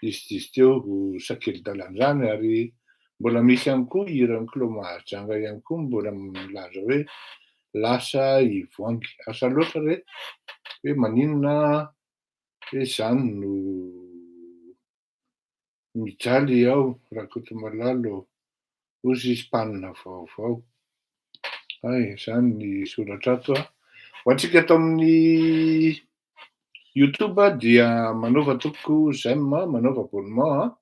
disydizy teo ro sakely dalan'izany ary mbola misy ihany koa hiran'i Klo Mahajanga ihany koa mbola milaza hoe lasa i Voangy asa loatra re hoe maninona hoe izany no mijaly ao Rakotomalalo Hoy izy, Mpanina vaovao. Hay, izany ny soratra ato. Ho antsika ato amin'ny YouTube dia manaova tompoko j'aime, manaova abonnement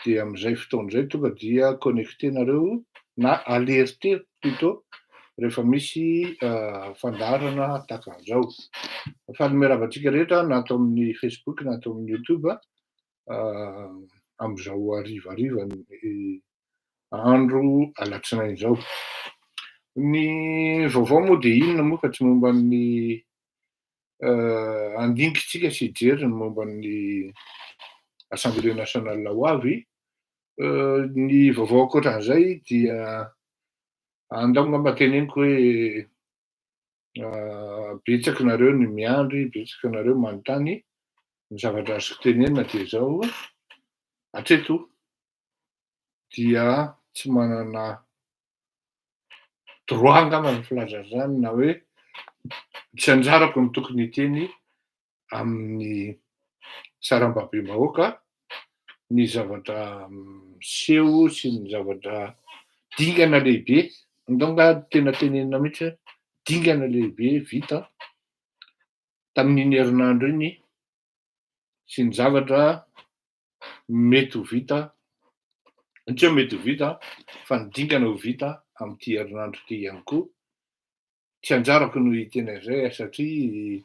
dia amin'izay fotoana izay tonga dia connecter nareo na alerter plutôt rehefa misy fandaharana tahaka an'izao. Faly miarahaba antsika rehetra na ato amin'ny Facebook na ato amin'ny YouTube. amin'izao harivariva andro alatsinainy izao. Ny vaovao moa dia inona moa fa tsy momba ny handinika isika sy hijery ny momba ny Assemblée nationale ho avy, ny vaovao ankoatran'izay dia andao angamba teneniko hoe betsaka nareo ny miandry, betsaka nareo manontany, ny zavatra azoko tenenina dia izao, atreto dia tsy manana droit angamba ny filazana izany na hoe tsy anjarako ny tokony hiteny amin'ny sarambabem-bahoaka ny zavatra miseho sy ny zavatra dingana lehibe, ndao angaha tena tenenina mihitsy hoe dingana lehibe vita tamin'iny herinandro iny sy ny zavatra mety ho vita, tsy hoe mety ho vita fa ny dingana ho vita amin'ity herinandro ity ihany koa. tsy anjarako no hiteny an'izay a, satria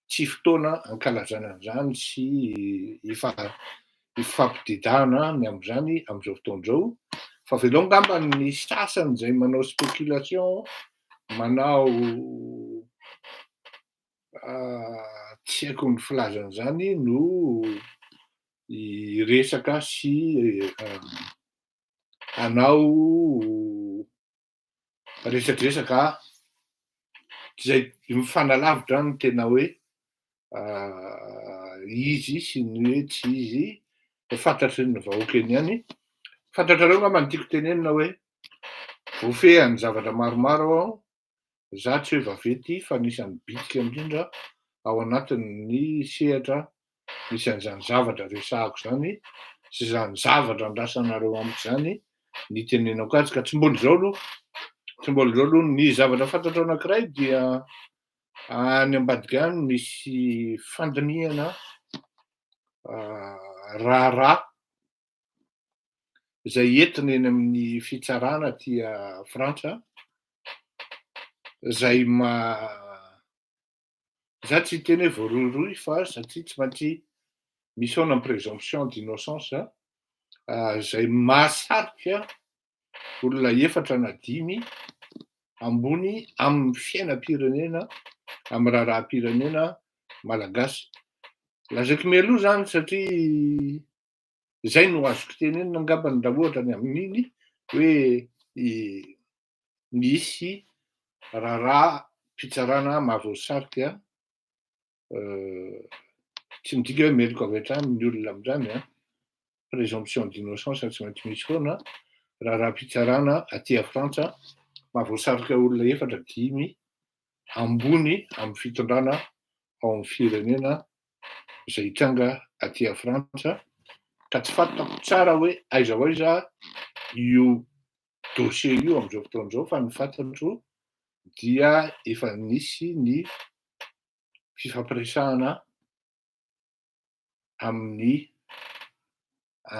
tsy fotoana hankalazana an'izany sy hifampididahana ny amin'izany amin'izao fotoana izao, fa avelao angamba ny sasany izay manao spéculation, manao tsy haiko ny filazana izany no hiresaka sy hanao resadresaka izay mifanalavitra ny tena hoe izy sy ny hoe tsy izy fantatry ny vahoaka eny ihany. Fantatrareo angamba ny tiako tenenina hoe voafehan'ny zavatra maromaro aho, za tsy hoe vaventy fa anisan'ny bitsika indrindra ao anatin'ny sehatra Misy an'izany zavatra resahako izany sy izany zavatra andrasanareo amiko izany ny itenenako azy ka tsy mbola izao aloha, tsy mbola izao aloha. Ny zavatra fantatro anankiray dia any ambadika any misy fandinihana raharaha izay entina eny amin'ny fitsarana aty Frantsa izay ma- Za tsy hiteny hoe voarohirohy fa satria tsy maintsy misaona ny présomption d'innocence za. Ah, zay mahasarika olona efatra na dimy ambony amin'ny fiainam-pirenena, amin'ny raharaham-pirenena malagasy. Lazaiko mialoha zany satria zay no azoko tenenina angambany raha ohatra ny amin'iny hoe nisy raharaham-pitsarana mahavoasarika tsy midika hoe meloka avy hatrany ny olona amin'izany an, présomption d'innocence tsy maintsy misy foana, raharaham-pitsarana aty à Frantsa mahavoasarika olona efatra dimy ambony amin'ny fitondrana ao amin'ny firenena izay hitranga aty à Frantsa ka tsy fantako tsara hoe aiza ho aiza io dossier io amin'izao fotoana izao fa ny fantatro dia efa nisy ny fifampiresahana amin'ny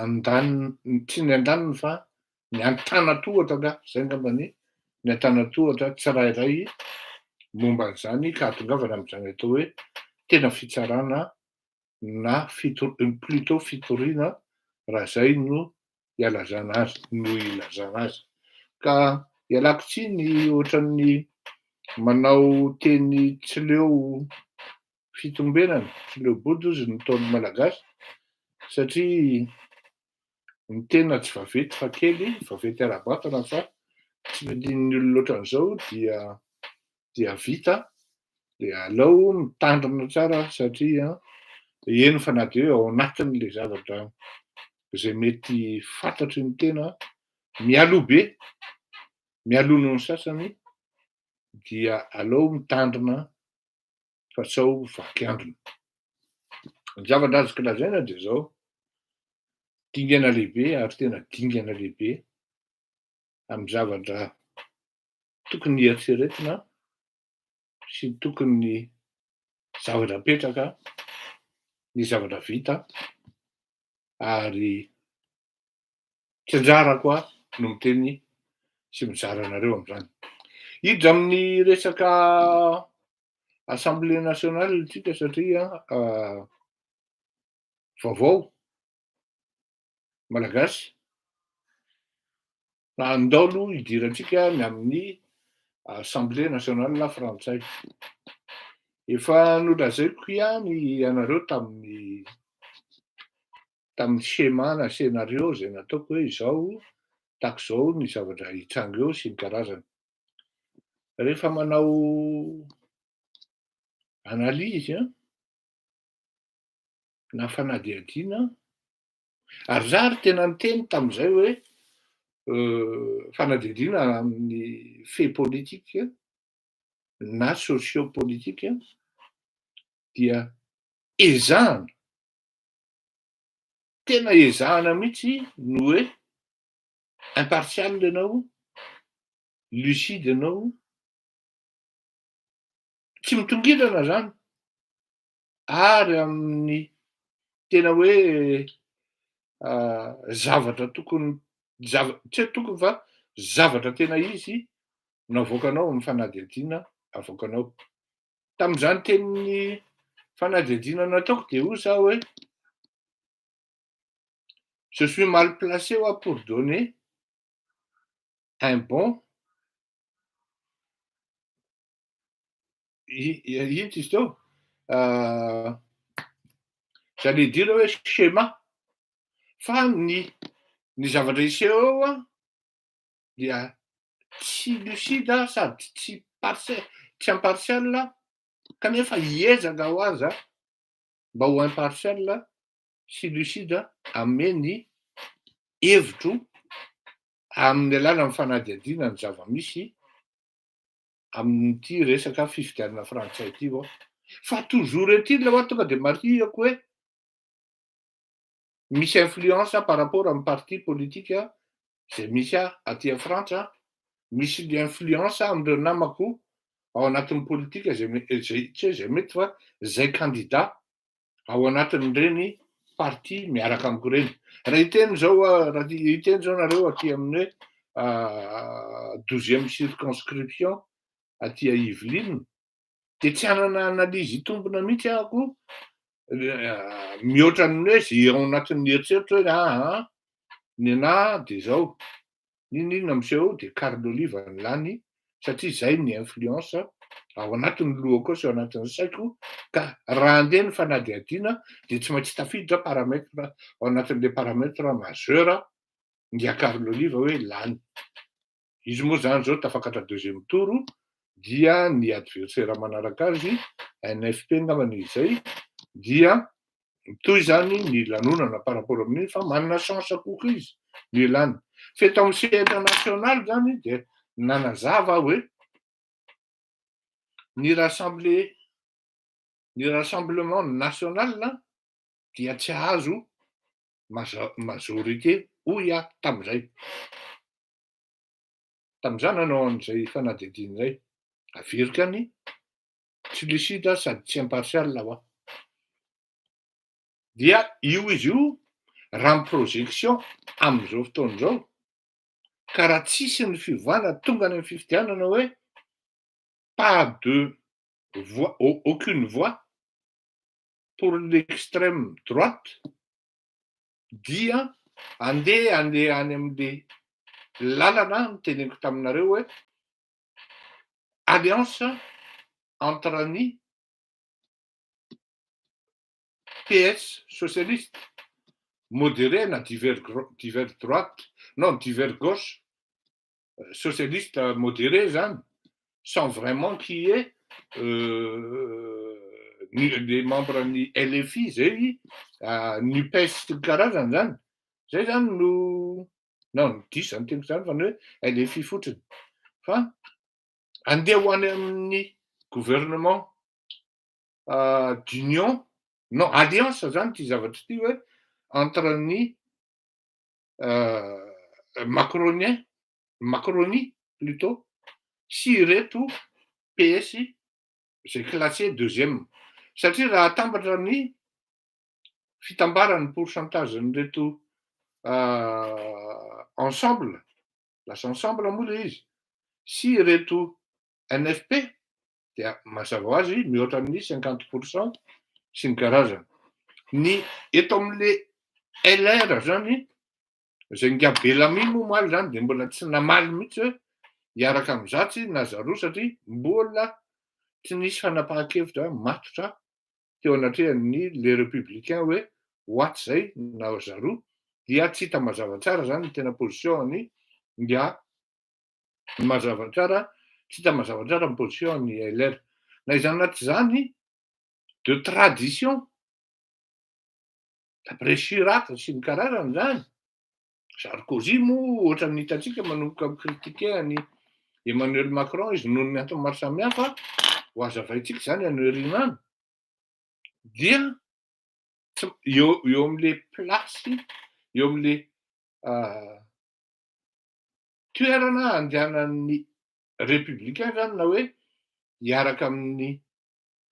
andaniny, tsy ny andaniny fa ny antanatohatra nga, izay ngamba ny ny antanatohatra tsirairay momba an'izany ka hahatongavana amin'izany atao hoe tena fitsarana na plutôt fitoriana raha zay no ialazana azy no ilazana azy ka ialako tsiny ohatran'ny manao teny tsy leo fitombenana tsy leo bodozy ny ntaon'ny malagasy satria ny tena tsy vaventy fa kely, vaventy ara-batana fa tsy vidian'ny olona ohatran'izao dia dia vita, dia aleo mitandrina tsara satria eny fa na dia ao anatin'ilay zavatra izay mety fantatry ny tena mialoha be, mialoha noho ny sasany dia aleo mitandrina fa sao vaky androny. Ny zavatra azoka lazaina dia zao, dingana lehibe ary tena dingana lehibe amin'ny zavatra tokony hieritreretina sy tokony zavatra apetraka ny zavatra vita ary Tsy anjarako aho no miteny sy mizara anareo amin'izany. Hiditra amin'ny resaka Assemblée nationale isika satria vaovao malagasy fa andao aloha hidirantsika ny amin'ny Assemblée nationale frantsay. Efa nolazaiko ihany ianareo tamin'ny tamin'ny schéma na scénario izay nataoko hoe izao tahaka izao ny zavatra hitranga eo sy ny karazany. Rehefa manao analyse an, na fanadihadiana ary za ary tena niteny tamin'izay hoe fanadihadiana amin'ny fait politique na sociopolitique dia ezahana Tena ezahana mihitsy ny hoe impartial ianao, lucide ianao, tsy mitongilana izany ary amin'ny tena hoe zavatra tokony zava- tsy hoe tokony fa zavatra tena izy no avoakanao amin'ny fanadihadiana avoakanao. tamin'izany tenin'ny fanadihadiana nataoko dia hoy za hoe je suis mal placé hoa pour donner un bon ino izy teo euh, j'allais dire hoe schéma fa ny ny zavatra iseho eo a dia tsy lucide sady tsy tsy impartial kanefa hiezaka ho aza mba ho impartial sy lucide hanome ny hevitro amin'ny alalan'ny fanadihadiana ny zava-misy amin'ity resaka fifidianana frantsay ity aho fa toujours est-il aho tonga dia marihiko hoe misy influence par rapport amin'ny parti politique izay misy ahy aty Frantsa, misy influence amin'ireo namako ao anatin'ny politika izay tsy hoe izay mety fa izay kandida ao anatin'ireny parti miaraka amiko ireny. Raha hiteny izao raha hiteny izao nareo aty amin'ny hoe douzième circonscription aty Yvelines dia tsy hanana analyse hitombina mihitsy ahako mihoatra ny hoe ze ao anatin'ny eritreritro hoe aa ny anah dia zao n'inon'inona miseho dia Carlo Oliva ny lany satria zay ny influence ao anatin'ny lohako ao sy ao anatin'ny saiko ka raha andeha ny fanadihadiana dia tsy maintsy tafiditra paramètre ao anatin'ilay paramètre majeur dia Carlo Oliva hoe lany Izy moa izany izao tafakatra deuxième tour dia ny adversaire manaraka azy NFP angamba ny izay dia mitohy izany ny lanonana par rapport amin'iny fa manana chance kokoa izy ny elany. F'eto amin'ny sehatra national izany dia nanazava aho hoe ny rassemble ny rassemblement national dia tsy hahazo majorité hoy aho tamin'izay. Tamin'izany nanao an'izay fanadihadiana izay. Averiko any, tsy lucide sady tsy impartial ho'a. Dia io izy io, raha ny projection amin'izao fotoana izao, ka raha tsisy ny fiovana tonga any amin'ny fifidianana hoe pas de voix, aucune voix pour l'extrême droite, dia andeha any amin'ny lalana noteneniko taminareo hoe alliance entre ny PS socialiste modéré na divers droite non divers gauche socialiste moderé zany sans vraiment qui est les membres ny LFI zay Nupes sy ny karazany zany zay zany no non diso zany teniko zany fa ny hoe LFI fotsiny fa andeha ho any amin'ny gouvernement d'union non alliance zany ty zavatra ty hoe entre ny macronien, macronie plutot, sy ireto PS izay classé deuxième. Satria raha atambatra ny fitambaran'ny pourcentage an'ireto ensemble, lasa ensemble moa ilay izy, sy ireto NFP, dia mazava ho azy mihoatra amin'ny cinquante pour cent sy ny karazany. Ny eto amin'ilay LR zany izay nga Bellamy moa omaly zany dia mbola tsy namaly mihitsy hoe hiaraka amin'ny Zatsy na Zarou satria mbola tsy nisy fanapahan-kevitra matotra teo anatrehan'ny les républicains hoe ho atsy izay na Zarou dia tsy hita mazava tsara zany ny tena position-ny nga Ny mazava tsara, tsy hita mazava tsara ny position ny LR. Na izany na tsy izany, de tradition, d'après Chirac sy ny karazany izany, Sarkozy moa ohatran'ny hitantsika manomboka mi-critiquer an'i Emmanuel Macron izy noho ny antony maro samihafa, ho azavaintsika izany any aoriana any, dia eo eo amin'ilay place, eo amin'ilay toerana handehanan'ny Républicains zany na hoe hiaraka amin'ny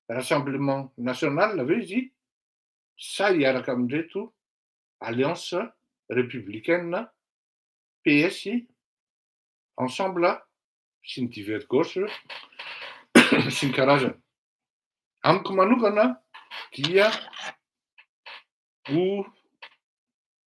Rassemblement National ve izy sa hiaraka amin'ireto Alliance Républicaine, PS, Ensemble sy ny Divers Gauche sy ny karazany. Amiko manokana dia ho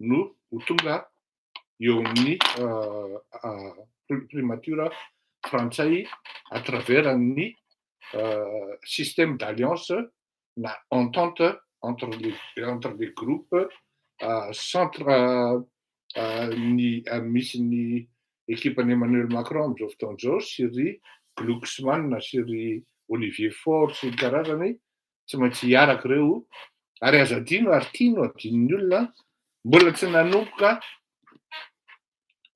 no ho tonga eo amin'ny primature frantsay à travers ny système d'alliance na entente entre les entre les groupes centre ny misy ny ekipan'i Emmanuel Macron amin'izao fotoana izao sy ry Glucksmann sy ry Olivier Faure sy ny karazany tsy maintsy hiaraka ireo ary aza adino ary tia no adinon'ny olona mbola tsy nanomboka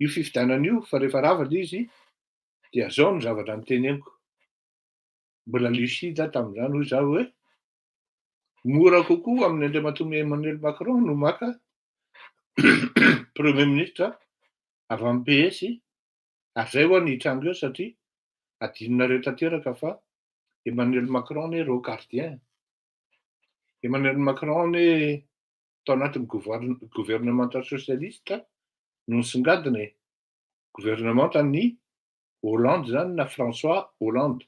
io fifidianana io fa rehefa rava ilay izy dia zao ny zavatra niteneniko mbola lucide tamin'izany hoy izaho hoe mora kokoa amin'ny Andriamatoa Emmanuel Macron no maka premier ministre avy amin'ny PS ary zay ho'a ny hitranga eo satria adinonareo tanteraka fa Emmanuel Macron anie reo gardien e! Emmanuel Macron anie tao anatin'ny governemanta socialiste no nisongadina e! Governemanta an'i Hollande izany na François Hollande.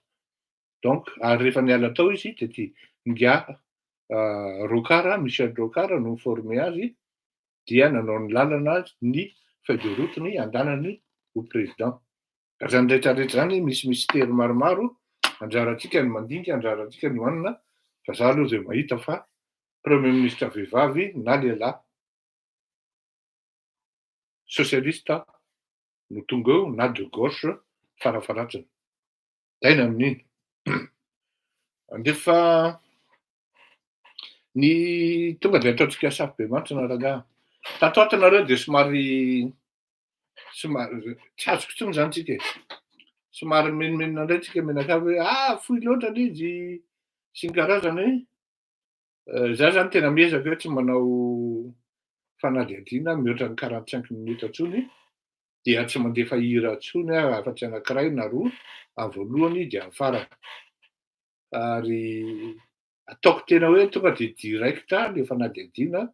Donc ary rehefa niala tao izy dia ty ingahy Rocard, Michel Rocard no ni-former azy dia nanao ny lalana ny feuille de route ny andanany ho président. Ka zany rehetra rehetra zany misy mystère maromaro anjarantsika ny mandinika anjarantsika ny manina fa za aloha zay mahita fa premier ministre vehivavy na lehilahy socialiste no tonga eo na de gauche farafaratsiny. Taina amin'iny. Andefa ny tonga dia ataontsika safobemantsina rangaha. Tato ato nareo dia somary somary tsy azoko intsony zany tsika e. Somary menomenona indray tsika menakavy hoe ah fohy loatra le izy sy ny karazany hoe Eh, za zany tena miezaka hoe tsy manao fanadihadiana mihoatra ny quarante cinq minutes tsony dia tsy mandefa hira tsony ah afa-tsy anakiray na roa any voalohany dia any farany ary ataoko tena hoe tonga dia directa le fanadihadiana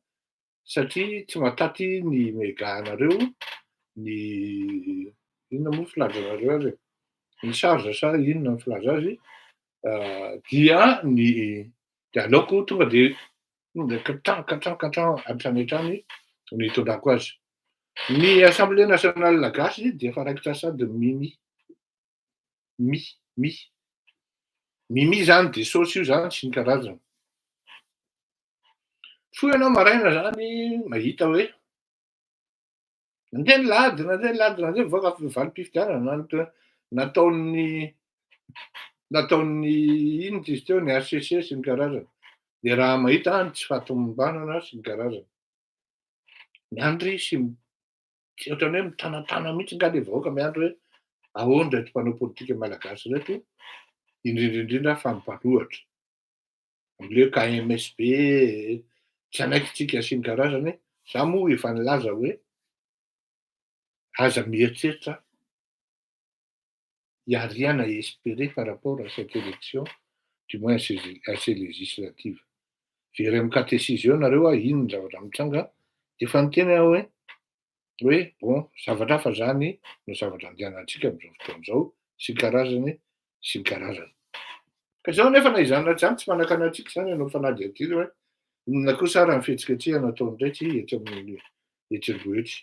satria tsy mataty ny mega anareo ny inona moa filazanareo azy e ny charge sa inona ny filaza azy dia ny de aleoko tonga de tonga katran katran katran hatrany hatrany ny tondrako azy ny assemblée nationale gasy dia efa raikitra sady mimi Mi, mi. Mimi zany dia saosy io zany sy ny karazany. Mifoha ianao maraina zany mahita hoe nandeha ny lady, nandeha ny lady, nandeha mivoaka avy ny valim-pifidianana nataon'ny nataon'ny inona izy teo ny HCC sy ny karazany. Dia raha mahita any tsy fahatomombanana sy ny karazany. Miandry sy Tsy ohatran'ny hoe mitanatana mihitsy angaha ilay vahoaka miandry hoe ahoana ireto mpanao politika malagasy ireto, indrindra indrindra fa mpanohatra. Amin'ilay KMSB, tsy hanaiky tsika sy ny karazany, za moa efa nilaza hoe aza mieritreritra il y a rien à esperer par rapport à cette élection du moins à ces législatives. Very amin'ny catéchise eo nareo a, ino ny zavatra mitranga a, efa niteny aho hoe hoe bon zavatra hafa zany no zavatra andehanantsika amin'izao fotoana izao sy ny karazany sy ny karazany. Ka izao nefa na izany na tsy izany tsy manakana antsika izany ianao fanadihadiana hoe inona kosa ary ny fihetsiketsehana ataon'ireto etsy amin'ny etsy Ambohitsy.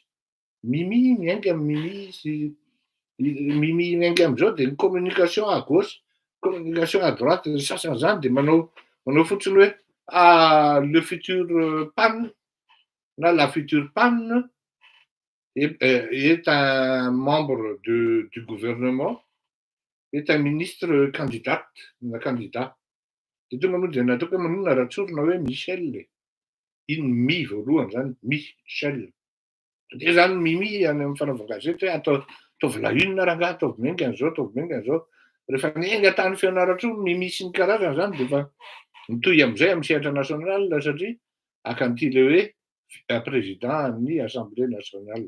Mimi miainga am Mimi sy Mimi miainga am zao de ny communication à gauche communication à droite ny sasany zany de manao manao fotsiny hoe ah le futur pan na la future pan est est un membre de du gouvernement est un ministre candidate na candidat de tonga moa de nataoko hoe manonona raha tsorina hoe Michel e iny mi voalohany zany Michel Dia izany mimi any amin'ny fanaovana gazety hoe atao ataovy la une rangaha, ataovy menga an'izao, ataovy menga an'izao. Rehefa miainga tany Fianarantsoa ny mimi sy ny karazany izany dia efa mitohy amin'izay amin'ny sehatra national satria hakan'ity ilay hoe eh, président an'ny Assemblée nationale.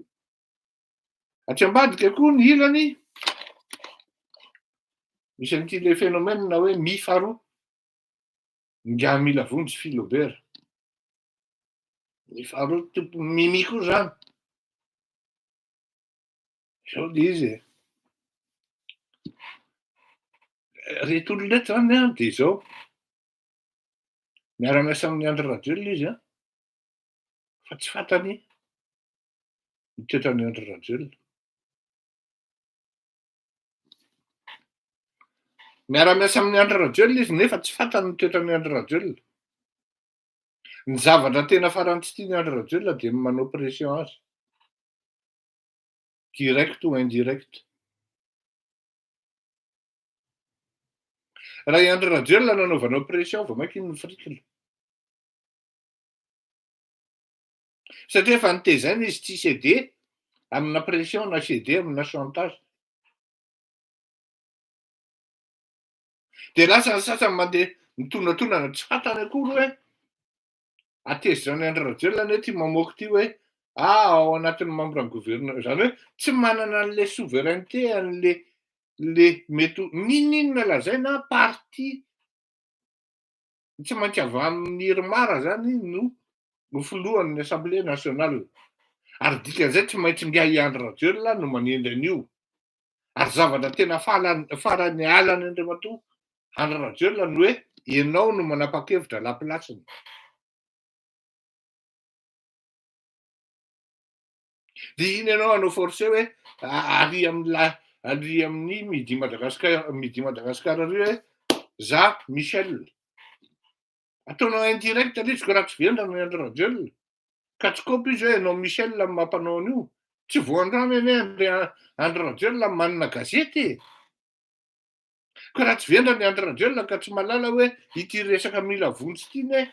Aty ambadika koa ny ilany misy an'ity ilay phénomène hoe mi faharoa. Ingahy Milavonjy Philobert. Ny faharoa tompo mimi koa zany. Zao le izy e. Reto olona reto zany an de zao. Miara-miasa amin'ny Andry Rajoelina izy an. Fa tsy fantany ny toetran'ny Andry Rajoelina. Miara-miasa amin'ny Andry Rajoelina izy nefa tsy fantany ny toetran'ny Andry Rajoelina. Ny zavatra tena farany tsy tiany Andry Rajoelina dia ny manao pression azy. Direct ou indirect. Raha i Andry Rajoelina no anaovanao pression vao mainka iny ny frikila. Satria efa nitezaina izy tsy cédé amina pression na cédé amina chantage. Dia lasa ny sasany mandeha mitondratondrana tsy fantany akory hoe atezitra any Andry Rajoelina anie ity mamoaka ity hoe ah ao anatin'ny membre ny gouverneur izany hoe tsy manana an'ilay souveraineté an'le le mety ho n'ininona lazaina parti ny tsy maintsy avy amin'ny Irmar zany no ho filohan'ny Assemblée nationale. Ary dikan'izay tsy maintsy ngiahy i Andry Rajoelina no manendry an'io. Ary zavatra tena fahalany farany hahalany Andriamatoa Andry Rajoelina ny hoe ianao no manapa-kevitra la place-ny. Dia iny ianao hanao forcer hoe ary amin'ny ary amin'ny midi Madagascar midi Madagascar ary hoe za Michel. Ataonao indirect aloha izy ko raha tsy velona ny Andry Rajoelina. Ka tsy kopy izy hoe ianao Michel no mampanao an'io. Tsy vao androany anie Andry Andry Rajoelina manana gazety e. Ka raha tsy velona ny Andry Rajoelina ka tsy malala hoe ity resaka mila vonjy ity ne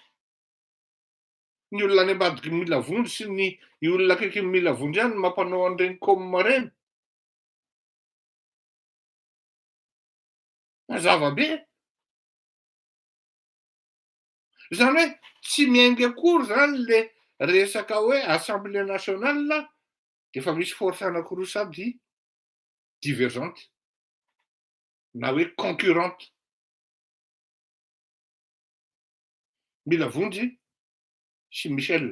Ny olona any ambadiky ny mila vondro sy ny olona akaiky ny mila vondro ihany no mampanao an'ireny com ireny. Mazava be. Izany hoe tsy miainga akory izany le resaka hoe assemblée nationale dia efa misy force anankiroa sady divergente na hoe concurrente. Mila vonjy sy Michel.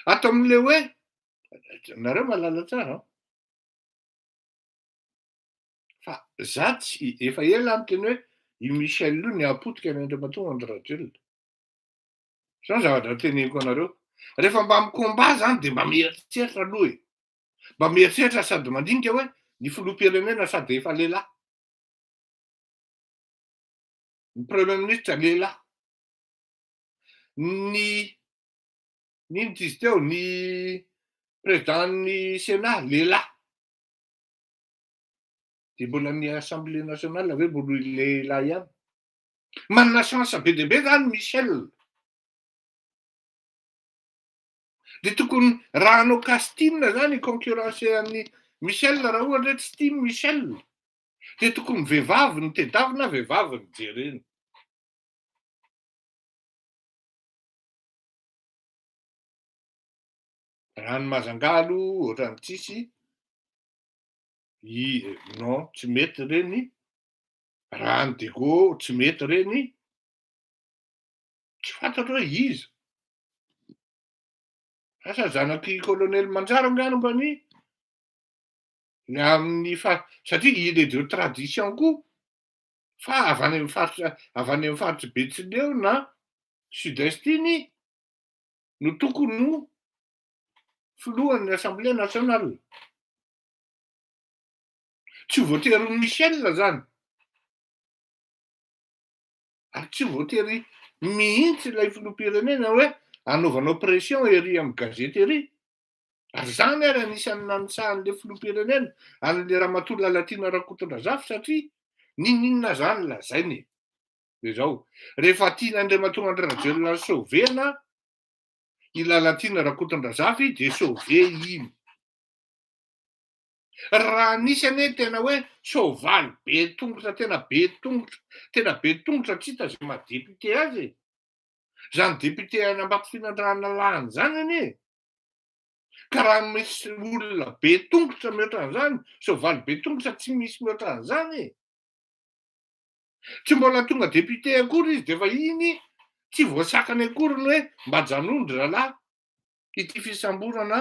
Ato amin'ilay hoe, nareo malala tsara an. Fa za tsy, efa ela aho niteny hoe i Michel io nihapotika ny Andriamatoa Andry Rajoelina. Zao zavatra teneniko anareo. Rehefa mba mi-combat zany dia mba mieritreritra aloha e. Mba mieritreritra sady mandinika hoe ny filoham-pirenena sady efa lehilahy. ny premier ministre lehilahy ny ny inona izy teo ny président ny sénat lehilahy dia mbola ny assemblée nationale ve mbola lehilahy ihany manana chance be dia be zany Michel dia tokony raha hanao casting zany hiconcurrencer an'i Michel raha ohatra hoe tsy tia Michel dia tokony ny vehivavy no tedavina na vehivavy no jerena. Raha ny mazangaha aloha ohatran'ny tsisy i non tsy mety ireny raha ny dego tsy mety ireny tsy fantatro hoe iza asa zanak'i kolonely manjary angano mba ny ny amin'ny far satria il est de tradition koa fa avy any amin'ny faritra avy any amin'ny faritry Betsileo na sud est iny no tokony ho filohan'ny assemblée nationale tsy ho voatery ho Michel zany ary tsy voatery mihitsy ilay filoham-pirenena hoe anaovanao pression ery amin'ny gazety ery Ary izany ary anisan'ny nanitsahan'ilay filoham-pirenena, an'ilay ramatoa Lalatiana Rakotondrazafy satria n'inon'inona izany lazainy e. Dia izao, rehefa tian'Andriamatoa Andry Rajoelina ny sauver-na i Lalatiana Rakotondrazafy dia sauver iny. Raha nisy anie tena hoe soavaly be tongotra, tena be tongotra, tena be tongotra tsy hita izay maha député azy e. Izany député an'Ambatofinandrahana lahany izany anie e. Ka raha misy olona be tongotra mihoatra an'izany, soavaly be tongotra tsy misy mihoatra an'izany e. Tsy mbola tonga député akory izy dia efa iny tsy voasakany akory ny hoe mba janony ry rahalahy ity fisamborana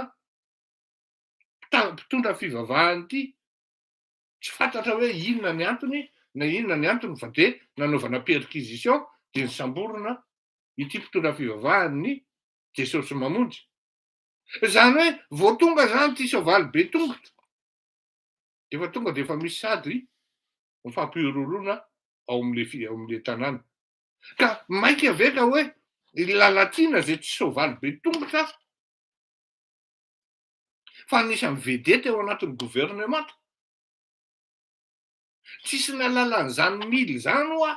mpitondra fivavahana ity. Tsy fantatra hoe inona ny antony na inona ny antony fa dia nanaovana perquisition dia nisamborina ity mpitondra fivavahana ny Jesosy mamonjy. Izany hoe vao tonga izany ity soavaly be tongotra dia efa tonga dia efa misy sady mifampihorohorona ao amin'ilay ao amin'ilay tanàna. Ka maika ve ka hoe i Lalatiana izay tsy soavaly be tongotra fa anisan'ny vedety ao anatin'ny governemanta? Tsisy nalalany izany mily izany hoa.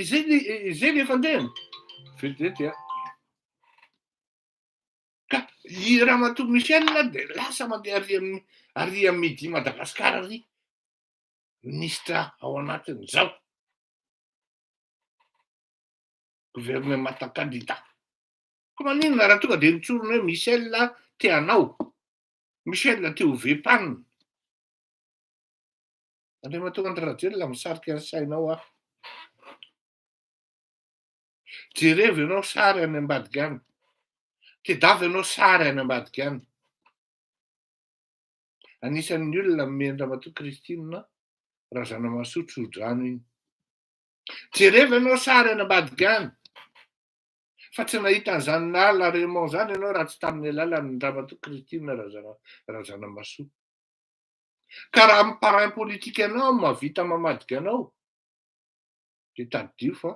Izay izay le fandehany. Vedety a. Ka i Ramatoa Michel dia lasa mandeha ary amin'ny ary amin'ny midi Madagasikara ary minisitra ao anatin'izao. Governemanta kandida. Ka maninona raha tonga dia mitsorona hoe Michel te hanao Michel aty ho VPAN. Andriamatoa Andry Rajoelina misarika ny sainao aho. Jerevo ianao sary any ambadika any. Tedavo ianao sary any ambadika any. Anisan'ny olona mimen'ny Ramatoa Christine Razanamasotro Rodrano iny. Jerevo ianao sary any ambadika any. Fa tsy nahita an'izany naha la Raymond izany ianao raha tsy tamin'ny alalan'ny Ramatoa Christine Razanamahasoa. Ka raha amin'ny parrain politique anao no mahavita mamadika anao, dia tadidio fa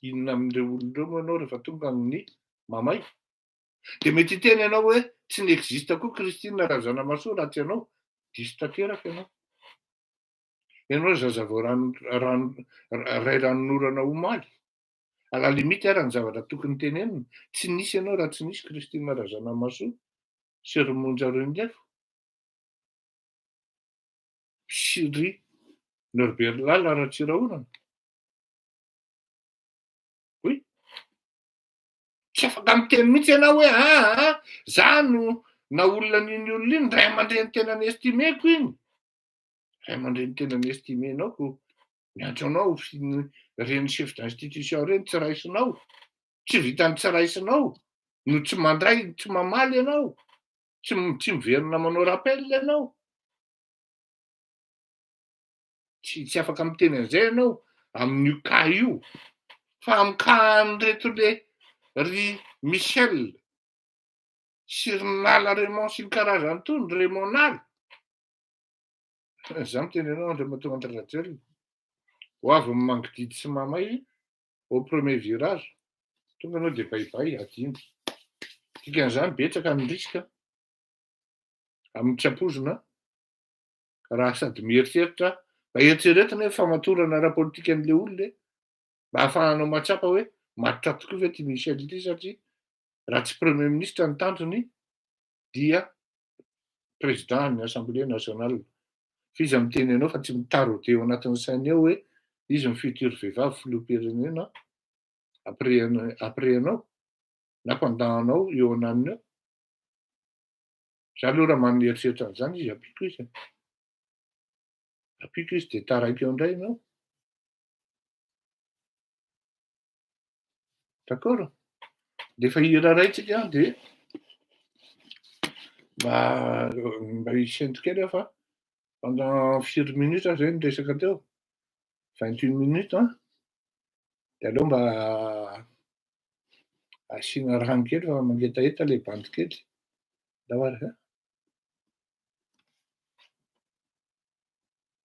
inona amin'ireo olona ireo moa ianao rehefa tonga amin'ny mamay? Dia mety hiteny ianao hoe tsy ni-existe koa Christine Razanamahasoa raha tsy ianao. Diso tanteraka ianao. Ianao zazavao ray ranonorana omaly. à la limite ary ny zavatra tokony tenenina tsy nisy ianao raha tsy nisy Christina Razanamahasoa sy ry Monja Renilefo sy ry Norbert Lala Ratsirahonana tsy afaka miteny mihitsy ianao hoe aa ah, ah, ah, za no na olona n'iny olona iny ray aman-dreny tena ny estimeko iny ray aman-dreny tena ny estimenao ko ny antsoanao reny chef d'institution reny tsy raisinao tsy vitany tsy raisinao no tsy mandray tsy mamaly ianao tsy tsy miverina manao rappel ianao tsy tsy afaka miteny an'izay ianao amin'io ka io fa amin'ny ka an'ireto le ry Michel sy ry nala Raymond sy ny karazany tony Raymond nala Za miteny anao Andriamatoa Andry Rajoelina, ho avy amin'ny mangididy sy mamay au premier virage, tonga anao dia baibay adino. Dikan'izany betsaka ny risque amin'ny tsy ampoizina raha sady mieritreritra mba eritreretina hoe famatorana ara-politikan'le olona e, mba hahafahanao mahatsapa hoe matotra tokoa ve ty Michel ity satria raha tsy premier ministre ny tanjony dia président ny assemblée nationale fa iza miteny anao fa tsy mitaraude eo anatin'ny sainy eo hoe izy ny futur vehivavy filoham-pirenena après après anao na mpandahanao eo ananiny eo za aloha raha manana eritreritra an'izany izy ampiko izy ampiko izy de taraiky eo indray ianao D'accord? Rehefa hiraraintsika dia mba mba hisento kely aho fa pendant firy minutes izay ny resaka teo? 28 minutes an! Dia aleo mba asiana rano kely fa mangetaheta ilay bandy kely. Angamba ary an!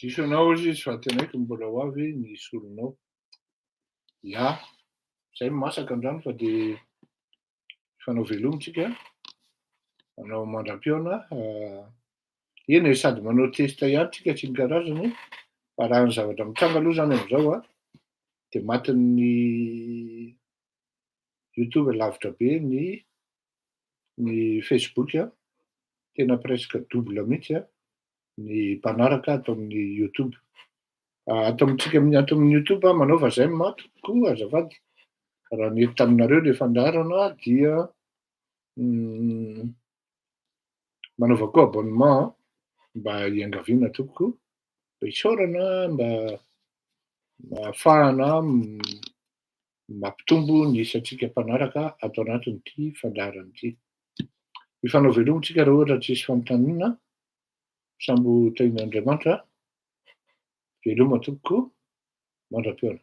Diso anao ozy izy fa tenaiky mbola ho avy ny solonao. Ya, zay no masaka andrano fa de fanao velomy tsika. Anao mandram-piaona. Ah, eny e, sady manao test ihany tsika tsy ny karazany. Fa raha ny zavatra mitranga aloha zany amizao a, de matin'ny youtube lavitra be ny ny facebook a, tena presque double mihitsy a. ny mpanaraka ato amin'ny youtube ato amintsika amin'ny ato amin'ny youtube a manaova zay ny maty koa azafady raha nety taminareo le fandarana dia hmm, manaova koa abonnement mba hiangaviana toko isaorana mba afahana no mampitombo ny isantsika mpanaraka ato anatin'ity fandaharana ity. Hifanao veloma isika raha ohatra tsy hisy fanontaniana, sambo ho tahian'Andriamanitra, veloma tompoko mandra-pihaona.